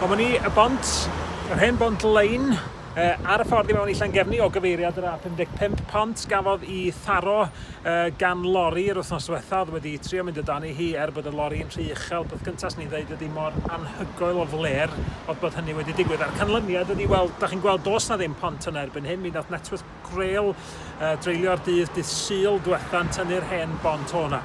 Dyma ni y bont, yr hen bont lein, ar y ffordd i mewn i Llangefni o gyfeiriad yr A55 pont gafodd i tharo gan lori yr wythnos diwetha oedd wedi trio mynd o dan ei hi er bod y lori yn rhy uchel. Peth cyntaf swn i'n dweud ydy mor anhygoel o fler oedd bod hynny wedi digwydd a'r canlyniad ydy, wel, da chi'n gweld dos na ddim pont yna erbyn hyn, mi wnaeth Networth Grail, uh, dreulio'r dydd dydd syl diwetha'n tynnu'r hen bont o'na.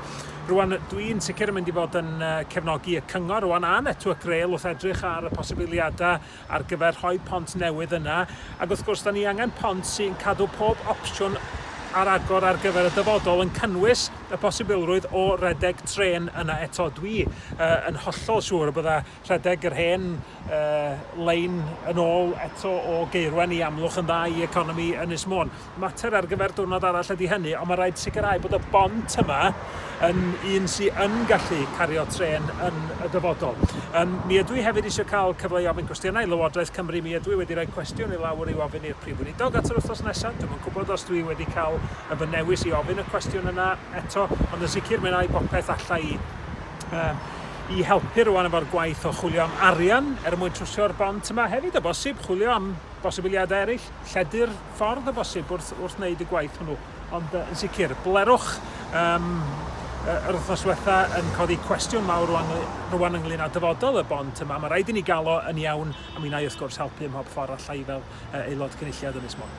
Rwan, dwi'n sicr yn mynd i fod yn uh, cefnogi y cyngor rwan a netwa Grail wrth edrych ar y posibiliadau ar gyfer rhoi pont newydd yna. Ac wrth gwrs, da ni angen pont sy'n cadw pob opsiwn ar agor ar gyfer y dyfodol yn cynnwys y posibilrwydd o redeg tren yna eto. Dwi uh, yn hollol siŵr y bydda Rhedeg yr hen lein yn ôl eto o Gaerwen i Amlwch yn dda i economi Ynys Môn. Mater ar gyfer diwrnod arall ydy hynny, ond mae rhaid sicrhau bod y bont yma yn un sy'n yn gallu cario trên yn y dyfodol. Um, mi ydw i hefyd eisiau cael cyfle i ofyn cwestiynau i Lywodraeth Cymru. Mi ydw i wedi rhoi cwestiwn i lawr i'w ofyn i'r Prif Weinidog at yr wythnos nesaf. Dwi'n yn gwybod os dwi wedi cael y fy newis i ofyn y cwestiwn yna eto, ond yn sicr mi wna i bopeth allai i um, i helpu rwan efo'r gwaith o chwilio am arian er mwyn trwsio'r bont yma hefyd o bosib, chwilio am bosibiliadau eraill, lledu'r ffordd o bosib wrth, wrth wneud y gwaith hwnnw. Ond yn sicr, blerwch um, yr wythnos diwetha yn codi cwestiwn mawr rwan, rwan ynglyn â dyfodol y bont yma. Mae rhaid i ni gael o yn iawn a mi wna i wrth gwrs helpu ym mhob ffordd allai fel aelod cynulliad Ynys Môn.